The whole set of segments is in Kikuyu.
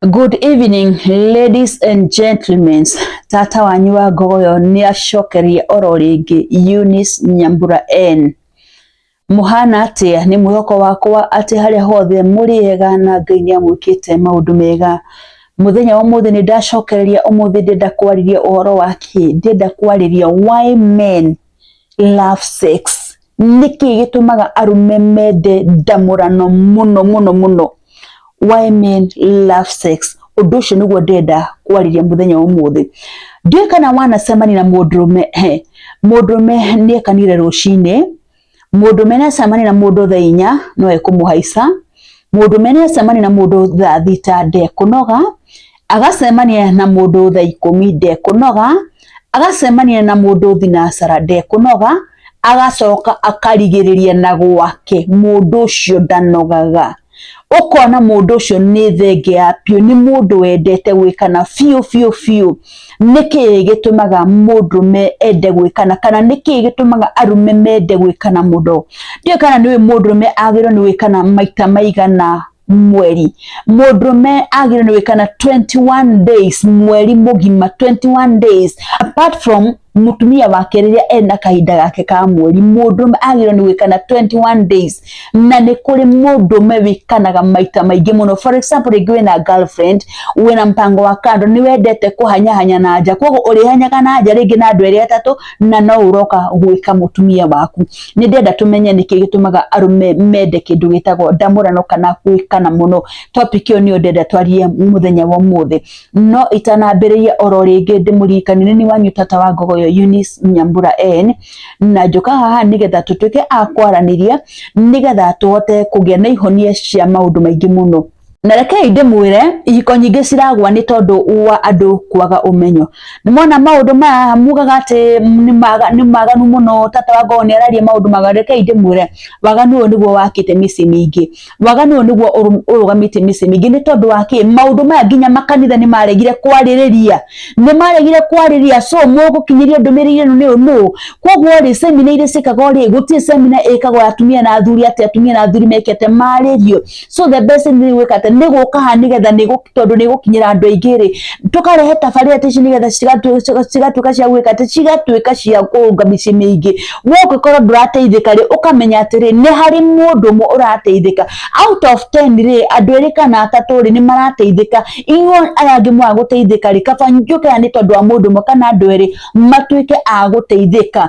Good evening ladies and gentlemen, tata wanyu wa ngogoyo nĩ acokerie oro rĩngĩ Eunice Nyambura N muhana atia nĩ mwĩhoko wakwa atĩ harĩa hothe mũrĩega na Ngai nĩ amwĩkĩte maũndũ mega muthenya wa muthi ni ndacokereria umuthi ndenda kwariria uhoro wa ki ndenda kwariria why men love sex nĩkĩ gĩtũmaga arũme mende ndamũrano mũno mũno mũno why men love sex ũndũ ũcio nĩguo ndenda kwarĩria mũthenya ũmũthĩ ndiũĩ kana wanacemania na mũndũrũme he mũndũrũme nĩekanire rũcinĩ mũndũrũme nĩacemania na mũndũ thaa inya no ekũmũhaica mũndũrũme nĩacemania na mũndũ thaa thita ndekũnoga Agacemania na mũndũ thaa ikũmi ndekũnoga, agacemania na mũndũ thinacara ndekũnoga, agacoka akarigĩrĩria na gwake mũndũ ũcio ndanogaga. Ũkona mũndũ ũcio nĩ thenge ya biũ, nĩ mũndũ wendete gwĩkana biũ biũ biũ. Nĩkĩ gĩtũmaga mũndũrũme ende gwĩkana kana nĩkĩ gĩtũmaga arũme mende gwĩkana mũno? Ndiũĩ kana nĩ ũĩ mũndũrũme agĩrĩirwo nĩ gwĩkana maita maigana mweri mũndũrũme agĩrĩirwo nĩ gwĩkana 21 days mweri mũgima 21 days apart from mũtumia wake rĩrĩa ena kahinda gake ka mweri mũndũrũme agĩrĩirwo nĩ gwĩkana 21 days na nĩ kũrĩ mũndũrũme wĩkanaga maita maingĩ mũno for example rĩngĩ wĩna girlfriend wĩna mpango wa kando nĩ wendete kũhanyahanya na nja koguo ũrĩhanyaga na nja rĩngĩ na andũ erĩ atatũ na no uroka gwika mutumia waku ni ndenda tumenye niki gitumaga arume mende kindu gitagwo ndamurano kana gwikana muno topic iyo ni ndenda twarie muthenya wa muthi no itanambiriria oro ringi ndimuririkani ni ni wanyu tata wa ngogo yo Eunice Nyambura N na njuka haha nigetha tutuike a kwaraniria nigetha tuhote kugia na ihonia cia maundu maingi muno na rekei ndĩmwĩre ihiko nyingĩ ciragwa nĩ tondũ wa andũ kwaga ũmenyo nĩ mona maũndũ maya mugaga atĩ nĩ maga- nĩ maganu mũno tata wa ngoo nĩ araria maũndũ maganu rekei ndĩmwĩre waganu ũyũ nĩguo wakĩte mĩciĩ mĩingĩ waganu ũyũ nĩguo ũrũ- ũrũgamĩtie mĩciĩ mĩingĩ nĩ tondũ wa kĩ maũndũ maya nginya makanitha nĩ maregire kwarĩrĩria nĩ maregire kwarĩrĩria so mũgũkinyĩria ndũmĩrĩri ĩno nĩ ũũ nũ koguo rĩ semina iria ciĩkagwo rĩ gũtirĩ semina ĩkagwo ya atumia na athuri atĩ atumia na athuri mekĩte marĩrio so the best thing nĩ gwĩka atĩ nĩ gũka haha nĩgetha nĩ gũ- tondũ nĩ gũkinyĩra andũ aingĩ rĩ tũkarehe tabarĩra ta ici nĩgetha cigatu- ciga- cigatuĩka cia gwĩka atĩ cigatuĩka cia kũrũnga mĩciĩ mĩingĩ we ũngĩkorwo ndũrateithĩka rĩ ũkamenya atĩrĩ nĩ harĩ mũndũ ũmwe ũrateithĩka out of 10 rĩ andũ erĩ kana atatũ rĩ nĩ marateithĩka inyuĩ aya angĩ mwa gũteithĩka rĩ kaba njũke haha nĩ tondũ wa mũndũ ũmwe kana andũ erĩ matuĩke a gũteithĩka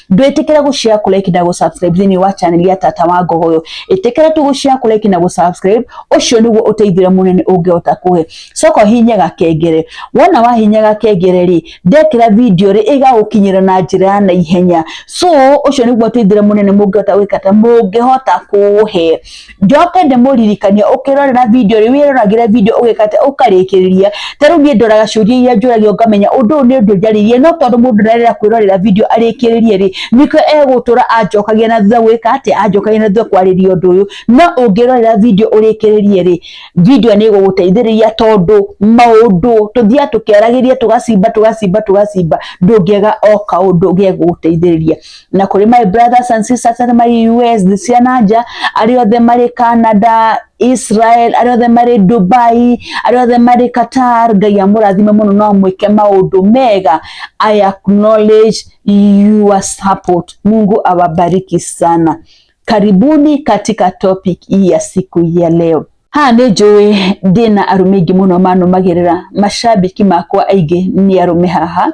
ndwĩtĩkĩre gũshare kũ like na gũ subscribe thĩinĩ wa channel ya tata wa ngogoyo ĩtĩkĩre tu gũshare kũ like na gũ subscribe ũcio nĩguo ũteithio mũnene ũngĩhota kũhe coka hihinya gakengere wona wahinya gakengere rĩ ndekĩra video rĩ ĩgagũkinyĩra na njĩra ya naihenya so ũcio nĩguo ũteithio mũnene mũngĩhota gwĩka ta mũngĩhota kũhe njoke ndĩmũririkanie ũkĩrorera video rĩu wĩroragĩre video ũgĩkate ũkarĩkĩrĩria ta rĩu niĩ ndoraga ciũria iria njũragio ngamenya ũndũ ũyũ nĩ ũndũ njarĩrie no tondũ mũndũ ndarera kwĩrorera video arĩkĩrĩrie rĩ nĩkĩo egũtũra anjokagia na thutha gwĩka atĩ anjokagia na thutha kwarĩria ũndũ ũyũ no ũngĩrorera video ũrĩkĩrĩrie rĩ video nĩ ĩgũgũteithĩrĩria tondũ maũndũ tũthiaga tũkĩaragĩria tũgacimba tũgacimba tũgacimba ndũngĩaga o kaũndũ gegũgũteithĩrĩria na kuri my brothers and sisters arĩa marĩ US thĩ cia na nja arĩa othe marĩ Canada Israel arĩa othe marĩ Dubai arĩa othe marĩ Qatar Ngai amũrathime mũno no amwĩke maũndũ mega I acknowledge your support Mungu awabariki sana karibuni katika topic hii ya siku hii ya leo ha nä njå ndä na arå mä ingä må no manåmagä rä ra macambiki makwa aingä nä arå me haha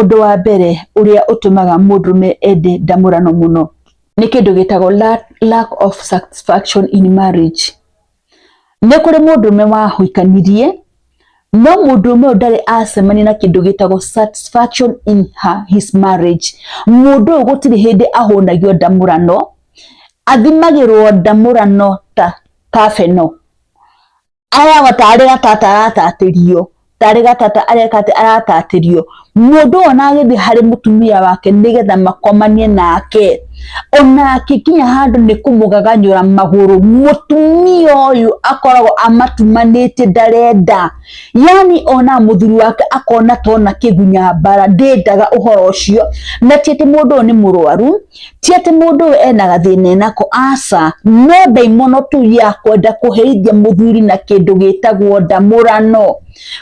Ũndũ wa mbere ũrĩa ũtũmaga mũndũrũme ende ndamũrano mũno nĩ kĩndũ gĩtagwo lack of satisfaction in marriage. Nĩ kũrĩ mũndũrũme wahikanirie no mũndũrũme ũyũ ndarĩ acemania na kĩndũ gĩtagwo satisfaction in her, his marriage. Mũndũ ũyũ gũtirĩ hĩndĩ ahũnagio ndamũrano, athimagĩrwo ndamũrano ta kabeno. aheagwo tarĩ gatata aratatĩrio tarĩ gatata areka atĩ aratatĩrio mũndũ ũyũ na agĩthiĩ harĩ mũtumia wake nĩgetha makomanie nake ona akikinya handũ nĩ kũmũgaganyũra magũrũ mũtumia ũyũ akoragwo amatumanĩtie ndarenda yani ona mũthuri wake akona tona kĩgunya mbara ndĩndaga ũhoro ũcio na ti atĩ mũndũ ũyũ nĩ mũrwaru ti atĩ mũndũ ũyũ ena gathĩna enako aca no ndaimono tu ya kwenda kũherithia mũthuri na kĩndũ gĩtagwo ndamũrano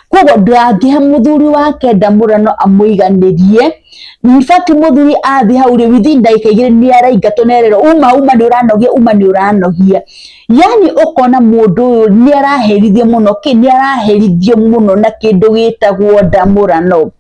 koguo ndangĩhe mũthuri wake ndamũrano amũiganĩrie in fact mũthuri athiĩ hau rĩ within ndagĩka igĩrĩ nĩ araingatwo na erĩrwo uma uma nĩ ũranogia uma nĩ ũranogia yani ũkona mũndũ ũyũ nĩ araherithio mũno kĩ nĩ araherithio mũno na kĩndũ gĩtagwo ndamũrano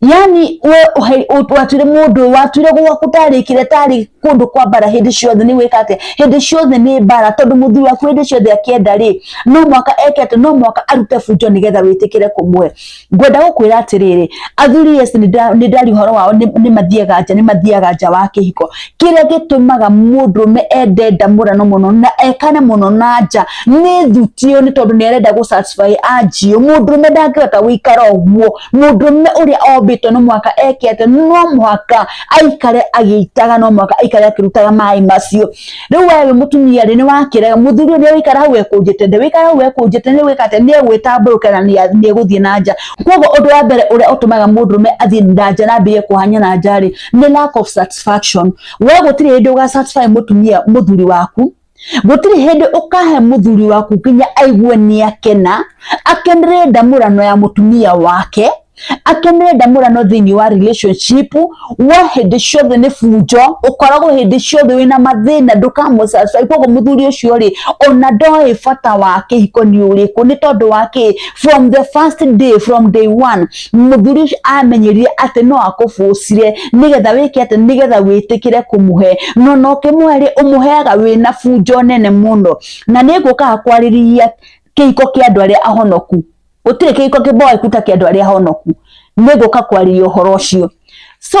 yani we watwire mundu watwire gwaku tarikire tari kundu kwa bara hindi ciothe ni wika atia hindi ciothe ni bara tondu muthuri waku hindi ciothe akienda ri no mwaka ekete no mwaka arute bunjo nigetha witikire kumwe ngwenda gukwira atiriri athuri yes ni ndari horo wao ni mathiaga nja ni mathiaga nja wa kihiko kiria gitumaga mundu me ende ndamurano muno na ekane muno na nja ni thutio ni tondu ni arenda gu satisfy anjio mundu me ndangihota guikara uguo Mũndũ ũmwe ũrĩa ombĩtwo no mũhaka eke atĩ no mũhaka aikare agĩitaga, no mũhaka aikare akĩrutaga maĩ macio. Rĩu we wĩ mũtumia rĩ, nĩ wakĩraga mũthuri ũyũ nĩ egũikara hau ekũnjĩte, ndegũikara hau ekũnjĩte, nĩ gwĩka atĩa, nĩ egwĩtambũrũka na nĩ egũthiĩ na nja. Koguo ũndũ wa mbere ũrĩa ũtũmaga mũndũrũme athiĩ na nja na ambĩrĩrie kũhanya na nja rĩ, nĩ lack of satisfaction. We gũtirĩ hĩndĩ ũga satisfy mũtumia mũthuri waku, gũtirĩ hĩndĩ ũkahe mũthuri waku nginya aigue nĩ akena akenere ndamũrano ya mũtumia wake akenere ndamũrano thĩinĩ wa relationship wa hĩndĩ ciothe nĩ bunjo ũkoragwo hĩndĩ ciothe wĩna mathĩna ndũkamũcacai koguo mũthuri ũcio rĩ ona ndoĩ bata wa kĩhiko nĩ ũrĩkũ nĩ tondũ wa kĩ from the first day from day one mũthuri ũcio amenyerire atĩ no akũbũcire nĩgetha wĩke atĩ nĩgetha wĩtĩkĩre kũmũhe no na ũkĩmũhe rĩ ũmũheaga wĩna bunjo nene mũno na nĩ ngũkaga kwarĩrĩria kĩhiko kĩa andũ arĩa ahonoku gũtirĩ kĩhiko kĩmboeku ta kĩa andũ arĩa ahonoku nĩ ngũka kwarĩrĩria ũhoro ũcio so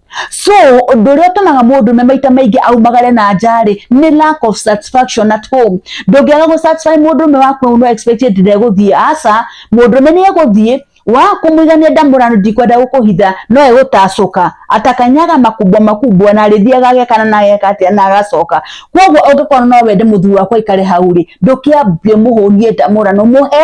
so ũndũ ũrĩa ũtũmaga mũndũ me maita maingĩ aumagare na njarĩ nĩ lack of satisfaction at home ndũngĩaga gũ satisfy mũndũ ũmwe waku no expect ati ndegũthiĩ aca mũndũ ũmwe nĩ egũthiĩ wa kumwigania ndamũrano ndikwenda gũkũhitha no egũtacũka atakanyaga makubwa makubwa na arĩthiaga agekana na ageka atĩa na agacoka kwoguo ũngĩkorwo no wende mũthuri wakwa aikare hau rĩ ndũkĩambie mũhũnie ndamũrano mũhe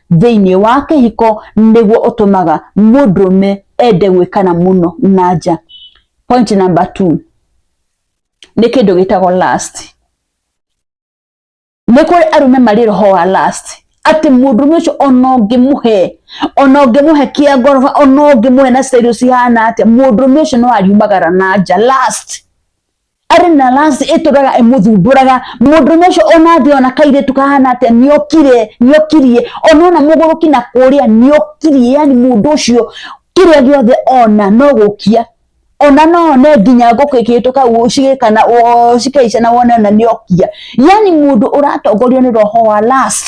thĩinĩ wa kĩhiko nĩguo ũtũmaga mũndũrũme ende gwĩkana mũno na nja point number two nĩ kĩndũ gĩtagwo last nĩ kũrĩ arũme marĩ roho wa last atĩ mũndũ ũmwe ũcio ona ũngĩmũhe ona ũngĩmũhe kĩa ngoroba ona ũngĩmũhe na style cihana atĩa mũndũ ũmwe ũcio no ariumagara na nja last arĩ na rasi ĩtũraga ĩmũthumbũraga mũndũrũme ũcio ona thĩ ona kairĩtu kahana atĩa nĩokire nĩokirie ona ona mũgũrũki na kũrĩa nĩokirie yani mũndũ ũcio kĩrĩa gĩothe ona no gũkia ona no one nginya ngũkũ ĩkĩhĩtũka ũguo cigĩkana oo cikaica na wone ona nĩokia yani mũndũ ũratongorio nĩ roho wa last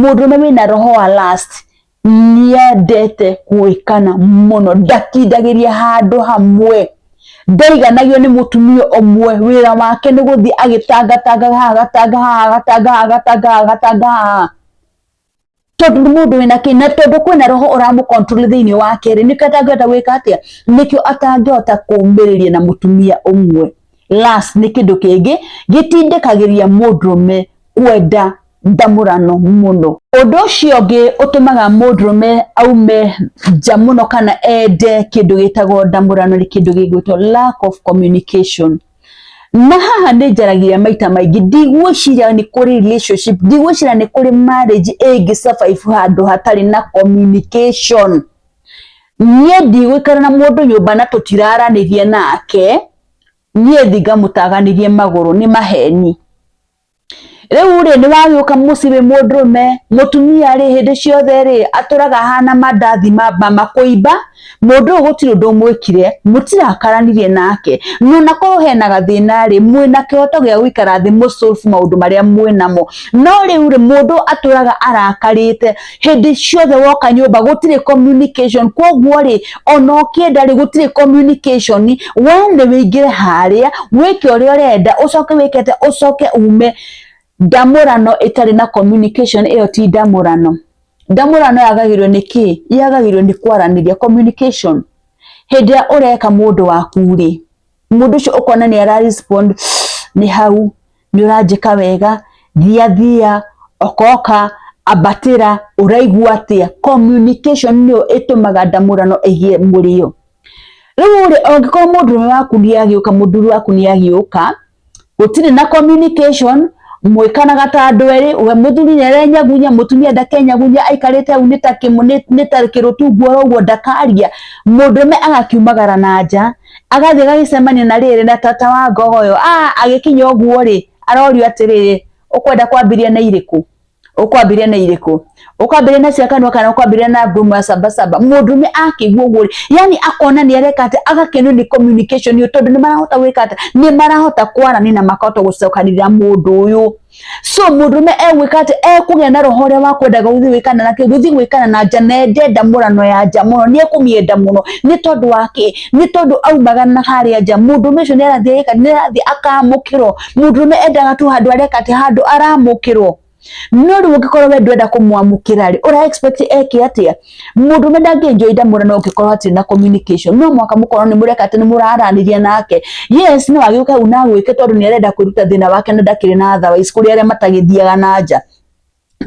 Mũndũ ũrĩa wĩna roho wa last nĩendete kũĩkana mũno, ndakindagĩria handũ hamwe, ndaiganagio nĩ mũtumia ũmwe, wĩra wake nĩ gũthiĩ agĩtangatangaga haha agatanga haha agatanga haha agatanga haha agatanga haha, tondũ nĩ mũndũ wĩna kĩĩ, na tondũ kwĩna roho ũramũ control thĩiniĩ wake rĩ, nĩkĩo atangĩhota gwĩka atĩa, nĩkĩo atangĩhota kũmĩrĩria na mũtumia ũmwe. Last nĩ kĩndũ kĩngĩ gĩtindĩkagĩria mũndũrũme kwenda ndamũrano mũno ũndũ ũcio ũngĩ ũtũmaga mũndũrũme aume nja mũno kana ende kĩndũ gĩtagwo ndamũrano nĩ kĩndũ gĩgwĩtwo lack of communication na haha nĩ njaragia maita maingĩ ndigwĩciria nĩ kũrĩ relationship ndigwĩciria nĩ kũrĩ marriage ĩngĩ survive handũ hatarĩ na communication niĩ ndigũikara na mũndũ nyũmba na tũtiraranĩria nake niĩ thi ngamũtaganĩrie magũrũ nĩ maheni rĩu rĩ nĩ wagĩũka mũciĩ wĩ mũndũrũme mũtumia rĩ hĩndĩ ciothe rĩ atũraga hana mandathi makũimba mũndũ ũyũ gũtirĩ ũndũ mwĩkire mũtirakaranirie nake nona korwo hena gathĩna rĩ mwĩna kĩhoto gĩa gũikara thĩ mũ solve maũndũ marĩa mwĩnamo no rĩu rĩ mũndũ atũraga arakarĩte hĩndĩ ciothe woka nyũmba gũtirĩ communication koguo rĩ ona ũkĩenda rĩ gũtirĩ communication we nĩ wĩingĩre harĩa wĩke ũrĩa ũrenda ũcoke wĩkete ũcoke ume ndamũrano ĩtarĩ na communication ĩyo ti ndamũrano ndamũrano yagagĩrwo nĩ kĩ yagagĩrwo nĩ kwaranĩria communication hĩndĩ ĩrĩa ũreka mũndũ waku rĩ mũndũ ũcio ũkona nĩ ara respond nĩ hau nĩ ũranjĩka wega thiathia okoka ambatĩra ũraigua atĩa communication nĩyo ĩtũmaga ndamũrano ĩgĩe mũrĩo rĩu rĩ angĩkorwo mũndũrũme waku nĩ agĩũka mũthuri waku nĩ agĩũka gũtirĩ na communication mwĩkanaga ta andũ erĩ we mũthuri nĩ arenyagunya mũtumia ndakenyagunya aikarĩte hau nĩ ta kĩmũ- nĩ- nĩ ta kĩrũtungu oro ũguo ndakaria mũndũrũme agakiumagara na nja agathiĩ agagĩcemania na rĩrĩ na tata wa ngogo ũyũ ah, agĩkinya ũguo rĩ arorio atĩrĩrĩ ũkwenda kwambĩria na irĩkũ ukwambire na irĩkũ ukwambire na cia kanua kana ukwambire na ngumo ya sabasaba mũndũme akĩigua ũguo yani akona nĩ areka atĩ agakenio nĩ communication ĩyo tondũ nĩ marahota gwĩka atĩ nĩ marahota kwarani na makahota gũcokanĩrĩra mũndũ ũyũ so mũndũrũme egwĩka atĩ ekũgĩa na roho ũrĩa wa kwendaga gũthiĩ gwĩkana na kĩ gũthiĩ gwĩkana na nja na ende ndamũrano ya nja mũno nĩ ekũmĩenda mũno nĩ tondũ wa kĩ nĩ tondũ aumaga na harĩa nja mũndũrũme ũcio nĩ arathiĩ agĩka nĩ arathiĩ akamũkĩrwo mũndũrũme endaga tu handũ areka atĩ handũ aramũkĩrwo no rĩu ũngĩkorwo we ndwenda kũmwamũkĩra rĩ ũra expect eke atĩa mundu me ndangi enjoy ndamura no ngikorwo atiri na communication no mwaka mukorwo ni mureka ati ni muraraniria nake yes no agiuka u na gwike tondu ni arenda kwiruta thina wake na ndakiri na otherwise kuri aria matagithiaga na nja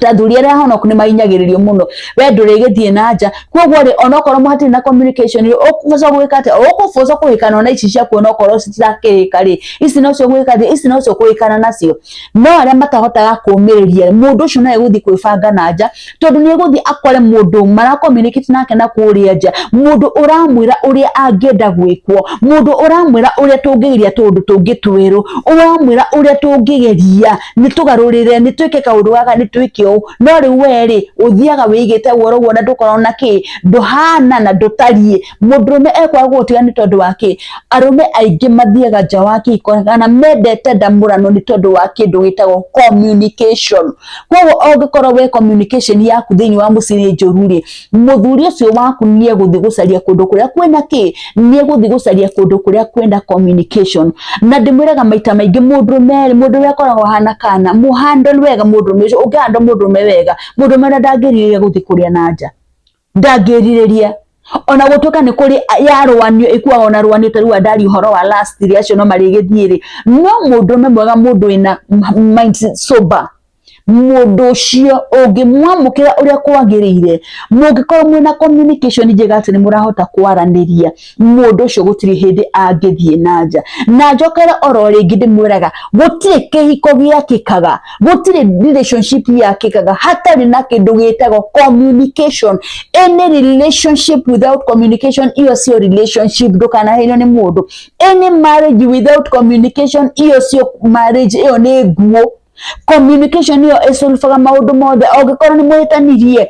athuri arĩa honoku nĩ mahinyagĩrĩrio mũno we ndũrĩgĩthiĩ na nja koguo rĩ onokorwo mũhatirĩ na communication rĩ ũkũboca gwĩka atĩa ũkũboca kũhĩkana ona ici ciaku onokorwo citirakĩhĩka rĩ ici nocio gwĩka atĩa ici nocio kũhĩkana nacio no arĩa matahotaga kũmĩrĩria mũndũ ũcio no egũthiĩ kwĩbanga na nja tondũ nĩ egũthiĩ akore mũndũ marakominikĩti nake na kũrĩa nja mũndũ ũramwĩra ũrĩa angĩenda gwĩkwo mũndũ ũramwĩra ũrĩa tũngĩgeria tũũndũ tũngĩ twerũ ũramwĩra ũrĩa tũngĩgeria nĩ tũgarũrĩre nĩ twĩke kaũndũ gaka nĩ twĩke ũũ no rĩu werĩ ũthiaga wĩigĩte guoro guo na ndũkorwo na kĩ ndũhana na ndũtariĩ mũndũrũme ekwaga gũgũtiga nĩ tondũ wa kĩ arũme aingĩ mathiaga nja wa kĩhiko kana mendete ndamũrano nĩ tondũ wa kĩndũ gĩtagwo communication koguo ũngĩkorwo we communication yaku thĩinĩ wa mũciĩ nĩ njũru rĩ mũthuri ũcio waku nĩ egũthiĩ gũcaria kũndũ kũrĩa kwĩna kĩ nĩ egũthiĩ gũcaria kũndũ kũrĩa kwĩna communication na ndĩmwĩraga maita maingĩ mũndũrũme mũndũ ũrĩa akoragwo hana kana mũhandle wega mũndũrũme ũcio ũngĩhandle mũndũrũme wega mũndũrũme ũrĩa ndangĩrirĩria gũthiĩ kũrĩa na nja ndangĩrirĩria ona gũtuĩka nĩ kũrĩ yarũanio ĩkuaga ona rũanio ta rĩu andari ũhoro wa last rĩ acio no marĩgĩthiĩ rĩ no mũndũme mwega mũndũ wĩna mind sober mũndũ ũcio ũngĩmwamũkĩra ũrĩa kwagĩrĩire mũngĩkorwo mwĩna communication njega atĩ nĩ mũrahota kwaranĩria mundu ucio gutiri hindi angithie na nja na njokere oro ringi ndimwiraga gutiri kihiko giakikaga gutiri relationship yakikaga hatari na kindu gitagwo communication any relationship without communication iyo sio relationship ndukanaheirwo ni mundu any marriage without communication iyo sio marriage iyo ni nguo communication iyo isolvaga maundu mothe ongikorwo ni mwihitanirie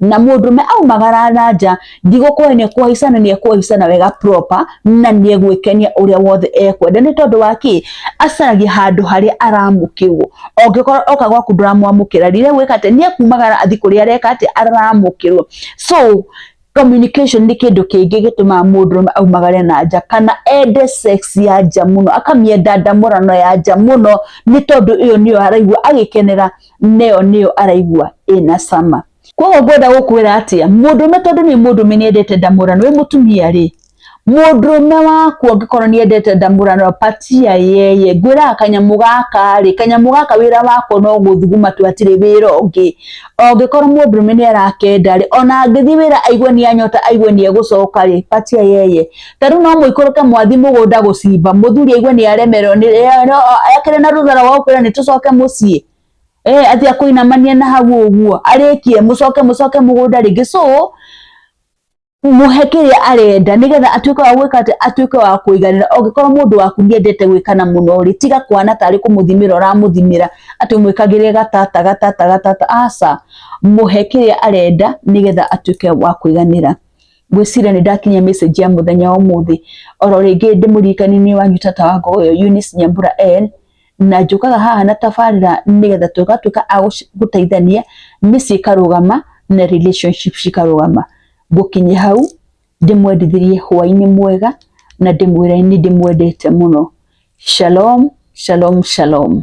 na mũndũme aumagara na nja ndigũkũhe nĩ ekũhaica na nĩ ekũhaica na wega proper na nĩ egwĩkenia ũrĩa wothe ekwenda nĩ tondũ wa kĩ acaragia handũ harĩa aramũkĩrwo ongĩkorwo oka gwaku ndũramwamũkĩra rĩ nĩ egwĩka atĩ nĩ ekumagara athi kũrĩa areka atĩ aramũkĩrwo so communication nĩ kĩndũ kĩngĩ gĩtũmaga mũndũ ũmwe aumagare na nja kana ende sex ya nja mũno akamĩenda ndamũrano ya nja mũno nĩ tondũ ĩyo nĩyo araigua agĩkenera neyo nĩyo araigua ĩna cama koguo ngwenda gũkwĩra atĩa mũndũrũme tondũ nĩ mũndũrũme nĩ endete ndamũrano wĩ mũtumia rĩ mũndũrũme waku angĩkorwo nĩ endete ndamũrano patia yeye ngwĩraga kanyamũ gaka rĩ kanyamũ gaka wĩra wako no gũthuguma tu hatirĩ wĩra ũngĩ angĩkorwo mũndũrũme nĩ arakenda rĩ ona angĩthiĩ wĩra aigue nĩ anyota aigue nĩ egũcoka rĩ patia yeye Tarĩu no mũikũrũke mwathi mũgũnda gũcimba mũthuri aigue nĩ aremerwo ekĩre na rũthara wa ũkwĩra nĩ tũcoke mũciĩ eh atĩ akũinamanie na hau ũguo arĩkie mũcoke mũcoke mũgũnda rĩngĩ so mũhe kĩrĩa arenda nĩgetha atuĩke wa gwĩka atĩ atuĩke wa kũiganĩra ũngĩkorwo mũndũ waku nĩendete gwĩkana mũno rĩ tiga kwana tarĩ kũmũthimĩra ũramũthimĩra atĩ mwĩkagĩre gatata gatata gatata aca mũhe kĩrĩa arenda nĩgetha atuĩke wa kũiganĩra. ngwĩciria nĩ ndakinyia message ya mũthenya wa ũmũthĩ oro rĩngĩ ndĩmũririkani-inĩ wanyu tata wa ngogo ĩyo Eunice Nyambura N na njũkaga haha na tabarĩra nĩgetha tũgatuĩka a gũci- gũteithania mĩciĩ ĩkarũgama na relationship cikarũgama ngũkinye hau ndĩmwendithĩrie hwaĩ-inĩ mwega na ndĩmwĩre nĩ ndĩmwendete mũno shalom shalom shalom